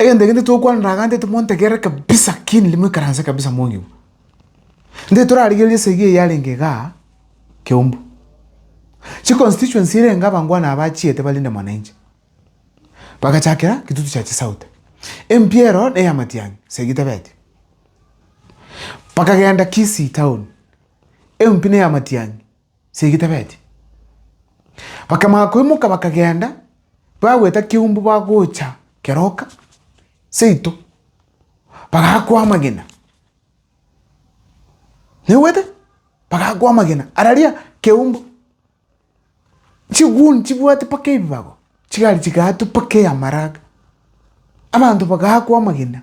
Egento eke ntitokwana ndagantete montegerere kabisa keenire moikaranse kabisa mongigwe. Nde torarigereria esegi eye yarenge iga Kiambu. Chiconstituency erenge abangwana aba achiete balinde mwananchi. Bagachakera Kitutu Chache South. MP ero na eya Matiang'i segi tebeti. Bakagenda Kisii town. MP na eya Matiang'i. segetabeti. Bakamanya koimoka bakagenda, bagweta keumbu bagocha keroka seito, bagakwa amagena. Naigwete? Bagakwa amagena araria keumbu. Chiguni chibwate mpaka ebibago, chigari chigaatwa mpaka eamaraga. Abanto bagakwa amagena,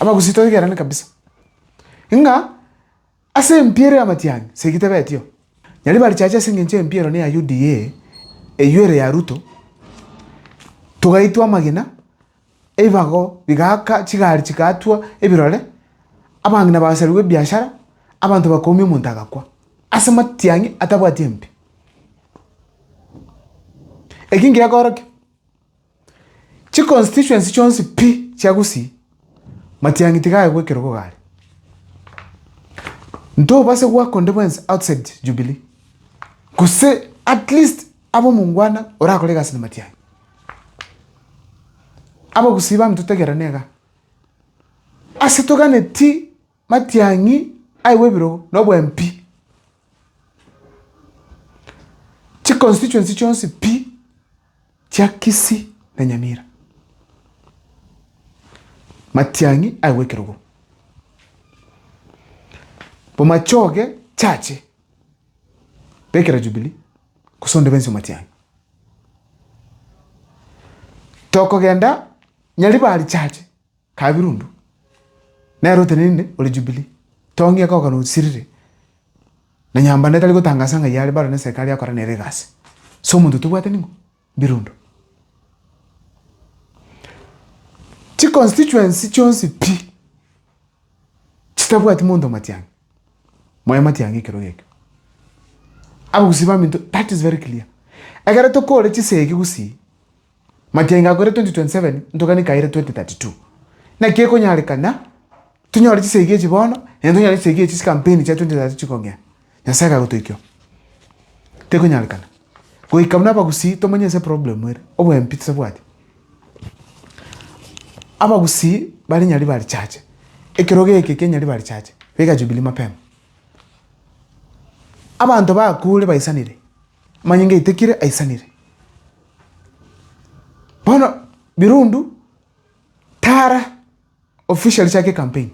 Abagusii toigerane kabisa, ng'a ase empiero y'amatiang'i segi tebetio. Nyari barichache ase engencho y'empiero ne ya UDA eywo ere ya Ruto, togaitwa amagena, ebibago bigaaka, chigari chigatwa ebirore, abang'ina bagasarigwa ebiashara, abanto bakoomia omonto agakwa, ase amatiang'i atabwati empi. Eki ngekorokio, Chiconstituency chionsi pi chia Gusii, Matiang'i tiga aye gwekerogo gare. Ntobase goaka onde bwensi outside Jubilee, gose at least abe omongwana orakore egasi na Matiang'i. Abagusii baminto tegerane igaa. Ase toganeti. Matiang'i aigwe ebirogo na obwempi, chiconstituency chionsi pi chia Kisii na Nyamira. Matiang'i aigwe ekerogo. Bomachoge chache bekera Jubilee gose onde bwensi o Matiang'i. Tokogenda Nyaribari chache. Kabirundu, nere otenenine ore Jubilii, tongi ekoka nosirire, na nyambando etari gotangasa ng'ai are baro neserikari yakora nere egasi. Ase omonto tobwate ning'o? Birundu. Chiconstituency chionsi pi chitabwati monto Matiang'i, moe Matiang'i ekerogo ekio. Abagusii baminto that is very clear. Ekero tokore chisegi gusii. Magenga akoire 2027 ntogani kaire 2032. Naki ekonyarekana tonyore chisegi echi bono naende tonyore chisegi echi chikampeni chia 2032 chikong'ea. Nyasae kagotoikeo. Tekonyarekana. Goika buna abagusii tomanye ase problem ere. Obwempi tisabwati. Abagusii bare Nyaribari church. Ekerogo eke kia Nyaribari church beka jubilee mapema. Abanto bakure baisanire. Manye ngaitekire aisanire. Bono Birundu tara officially chake campaign.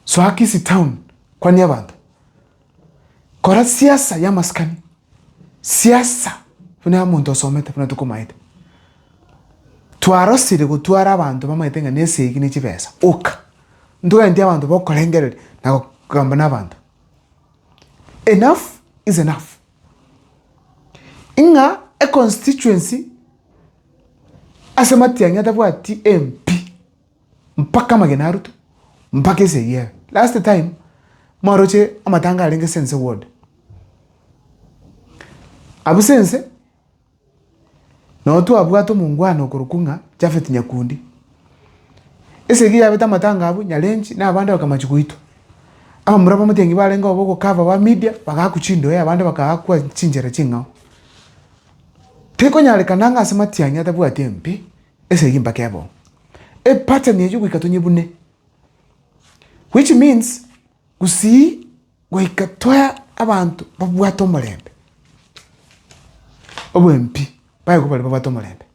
Soa Kisii town kwanie abanto. Kora siasa ya maskani. Siasa buna ya omonto osomete buna tokomaete. Twarosire gotwara abanto bamaete ng'a nesegi ne chibesa. Oka. Ntogenti abanto bokorengereria na gokamba na abanto. Enough is enough. Ing'a econstituency ase Matiang'i atabwati MP mpaka amagena a Ruto mpaka esegi ebe. Last time mwaroche amatanga arenge Sense ward. Abwo Sense. Nao twabwate omongwana okorokwa ng'a Jafeti Nyakundi. Esegi yabete amatanga abwo nyarenchi na abande bakamachi goitwa. Abamura abamotienyi barenge oo bogokava ba Midia bagaakwa chindoe na abande bakaakwa chinchera ching'ao. Tekonyarekana ng'a ase matianyi atabwati embe, esegi mpaka ebe oo. Epattern eyio goika tonyebune, which means gusii. Goika toe abanto babwate omorembe, obwempi baye kobare babwate omorembe.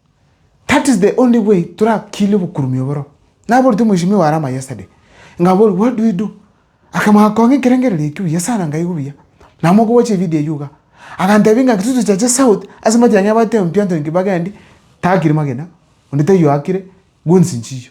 That is the only way torakire obokurume oboro. Naboretie omweshimiwa are ama yesterday, ngaboria what do we do? Akamanya kong'a ekerengerero eki buya sana ngaigu buya. Namoka gocha evideo eyio iga. Agantebia ng'a intwe tochache south ase amatiang'i abatebi pi Anthony Kibak endi, takire magena, onde taiyo akire, goods nchiyo.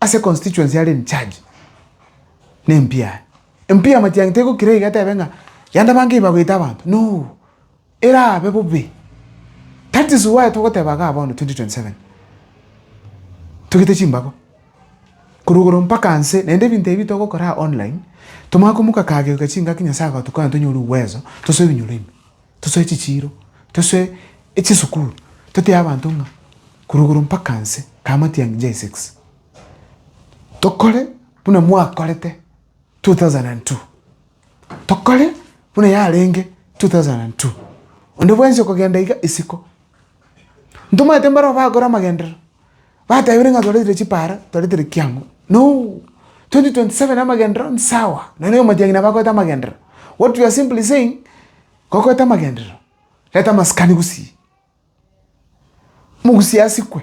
Ase constituency are in charge ne MP aye. MP ya Matiang'i tegokira iga atebe ng'a yande abange iba goita abanto. No! Erabe bobe. That is why togoteba igaa bono 2027. Togite chimbago. Korwa igoro mpaka nse naende ebinto ebi togokora aa online tomanye komoka kageuka chingaki Nyasaye agotukonya tonyore uwezo tosoe ebinyoro ime. tosoe chichiiro, tosoe echisukuru, totebe abanto ng'a korwa igoro mpaka nse kamati ya ngincho ya six, tokore buna mwakorete two thousand and two, tokore buna yarenge two thousand and two, onde bwensi okogenda iga isiko. Ntomanyete mbarabwo bagokora amagenderero, batebire ng'a toretire chipara, toretire kiang'o. No! 2027 amagenderero nsawa, nonya omotienyi nabo akorete amagenderero. What we are simply saying, gokorete amagenderero, reta amasikani gusii, mogusie asikwe.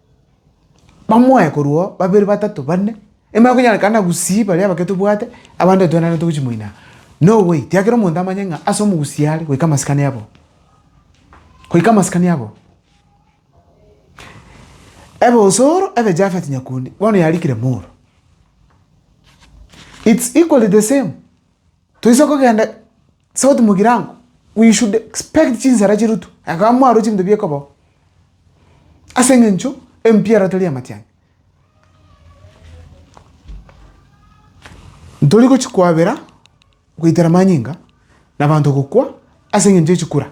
Bamoe korwa oo, babere, batato, bane, ime konyarekana gusii baria abake tobwate, abande twenane togochia moino aa. No way, tiakera omonto amanye ng'a ase omogusii are goika amasikani aboo. Goika amasikani aboo. Ebosoro ebe Japhet Nyakundi, bono yarikire Moro. It's equally the same, toise kogenda. Sauti mogirango, we should expect chinsara chirutwe, ekaba mwarwe chinto biekobao, ase engencho empiara tari amatiangi. Ntori gochi kwabera goitera manyinga, na abanto gokwa ase engencho ye chikura.